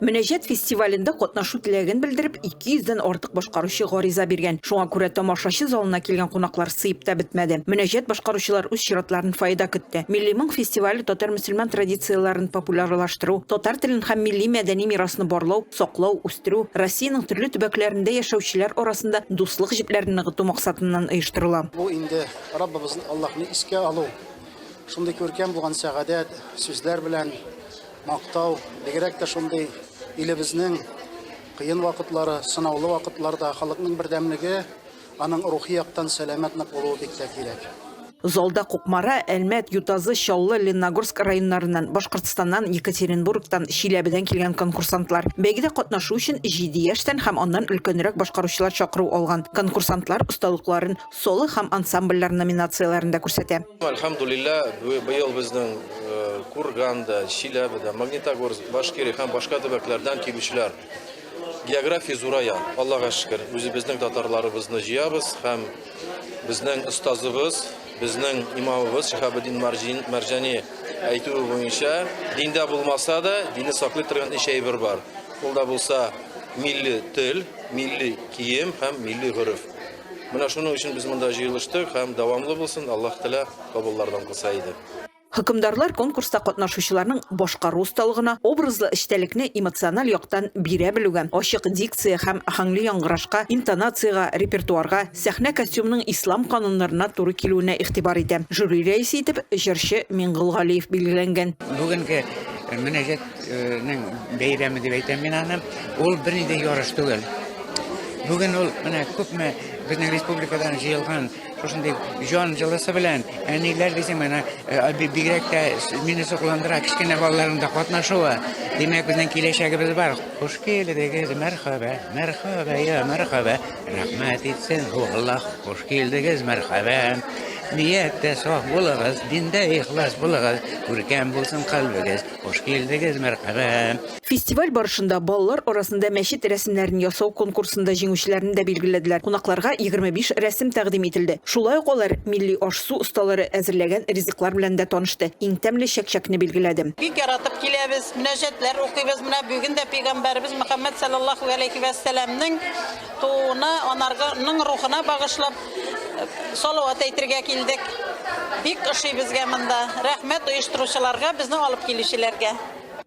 Мөнәҗәт фестивалендә катнашу теләген белдереп, 200 дән артык башкаручы гариза биргән. Шуңа күрә тамашачы залына килгән кунаклар сыеп та бетмәде. Мөнәҗәт башкаручылар үз чиратларын фаида көтте. Милли моң фестивале татар-мөселман традицияләрен популярлаштыру, татар телен һәм милли мәдәни мирасны барлау, саклау, үстерү, Россиянең төрле төбәкләрендә яшәүчеләр арасында дуслык җепләрен ныгыту максатыннан оештырыла. Бу инде Раббыбыз Аллаһны искә алу, шундый күркәм булган сәгадәт сүзләр белән, Мактау, бигрәк тә шундый илебезнең кыен вакытлары, сынаулы вакытларда халыкның бердәмлеге, аның рухи яктан сәламәт нык булуы бик тә кирәк. Залда Кукмара, Әлмәт, Ютазы, Чаллы, Ленногорск районнарыннан, Башкортстаннан, Екатеринбургтан, Чиләбедән килгән конкурсантлар, бәйгедә катнашу өчен җиде яшьтән һәм аннан өлкәнрәк башкаручылар чакыру алган конкурсантлар осталыкларын соло һәм ансамбльләр номинацияләрендә күрсәтә. Әлхәмдуллилләһ, быел безнең Курганда, Чиләбедә, Магнитогорск, Башкирия һәм башка төбәкләрдән килүчеләр география зурая. Аллага шөкер, үзебезнең татарларыбызны җыябыз һәм безнең остазыбыз, безнең имамыбыз Шиһабетдин Мәрҗани әйтүе буенча, диндә булмаса да, динне саклый торган өч әйбер бар. Ул да булса милли тел, милли кием һәм милли гореф. Менә шуның өчен без монда җыелыштык һәм дәвамлы булсын, Аллаһ Тәгалә кабуллардан кылса иде. Хөкемдарлар конкурста катнашучыларның башкару осталыгына, образлы эчтәлекне эмоциональ яктан бирә белүгә, ачык дикция һәм аһәңле яңгырашка, интонациягә, репертуарга, сәхнә костюмының ислам кануннарына туры килүенә игътибар итә. Жюри рәисе итеп җырчы Миңгол Галиев билгеләнгән. Бүгенге мөнәҗәт. Нең бәйрәме дип әйтәм мин аны. Ул берни дә ярыш түгел. Бүген ул менә күпме безнең республикадан җыелган шушындый җан җылысы белән әниләр дисең менә бигрәк тә мине сокландыра кечкенә балаларның да катнашуы. Димәк, безнең киләчәгебез бар. Хуш килдегез, мәрхәбә, мәрхәбә, я мәрхәбә. Рәхмәт итсен Аллаһ. Хуш килдегез, мәрхәбә. Нияттә саф булыгыз, диндә ихлас булыгыз, күркәм булсын калбыгыз. Хуш килдегез, мәрхәбә! Фестиваль барышында балалар арасында мәчет рәсемнәрен ясау конкурсында җиңүчеләрне дә билгеләделәр. Кунакларга 25 рәсем тәкъдим ителде. Шулай ук алар милли аш-су осталары әзерләгән ризыклар белән дә танышты, иң тәмле чәкчәкне билгеләде. Бик яратып киләбез, мөнәҗәтләр укыйбыз. Менә бүген дә пәйгамбәребез Мөхәммәд салләллаһу галәйһи вә сәламнең Тууына, анарга, ның рухына багышлап салават әйтергә килдек. Бик ошый безгә монда. Рәхмәт оештыручыларга, безне алып килүчеләргә.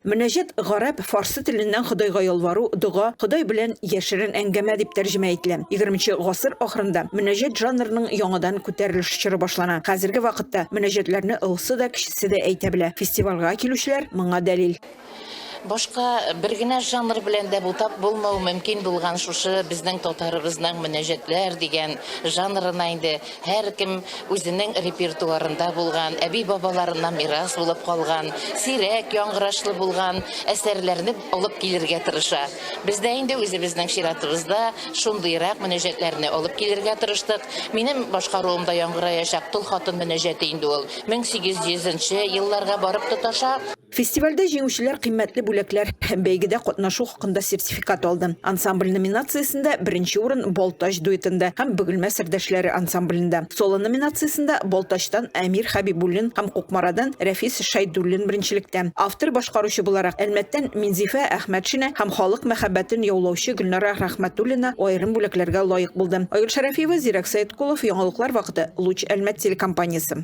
Мөнәҗәт гарәп, фарсы теленнән Ходайга ялвару, дога, Ходай белән яшерен әңгәмә дип тәрҗемә ителә. Егерменче гасыр ахырында мөнәҗәт жанрының яңадан күтәрелеш чоры башлана. Хәзерге вакытта мөнәҗәтләрне олысы да, кечесе дә әйтә белә. Фестивальгә килүчеләр моңа дәлил. Башка бер генә жанр белән дә бутап булмау мөмкин булган шушы безнең татарыбызның мөнәҗәтләр дигән жанрына инде һәркем үзенең репертуарында булган, әби-бабаларыннан мирас булып калган, сирәк яңгырашлы булган әсәрләрне алып килергә тырыша. Без дә инде үзебезнең чиратыбызда шундыйрак мөнәҗәтләрне алып килергә тырыштык. Минем башкаруымда яңгыраячак Тол хатын мөнәҗәте инде ул 1800 нче елларга барып тоташа. Фестивальдә җиңүчеләр кыйммәтле бүләкләр һәм бәйгедә катнашу хакында сертификат алды. Ансамбль номинациясендә беренче урын Балтач дуэтында һәм Бөгелмә сердәшләре ансамблендә, соло номинациясендә Балтачтан Әмир Хәбибуллин һәм Кукмарадан Рәфис Шәйдуллин беренчелектә. Автор-башкаручы буларак Әлмәттән Минзифә Әхмәтшина һәм халык мәхәббәтен яулаучы Гөлнара Рәхмәтуллина аерым бүләкләргә лаек булды. Айгөл Шәрәфиева, Зирәк Сәеткулов, Яңалыклар вакыты, Луч Әлмәт телекомпаниясе.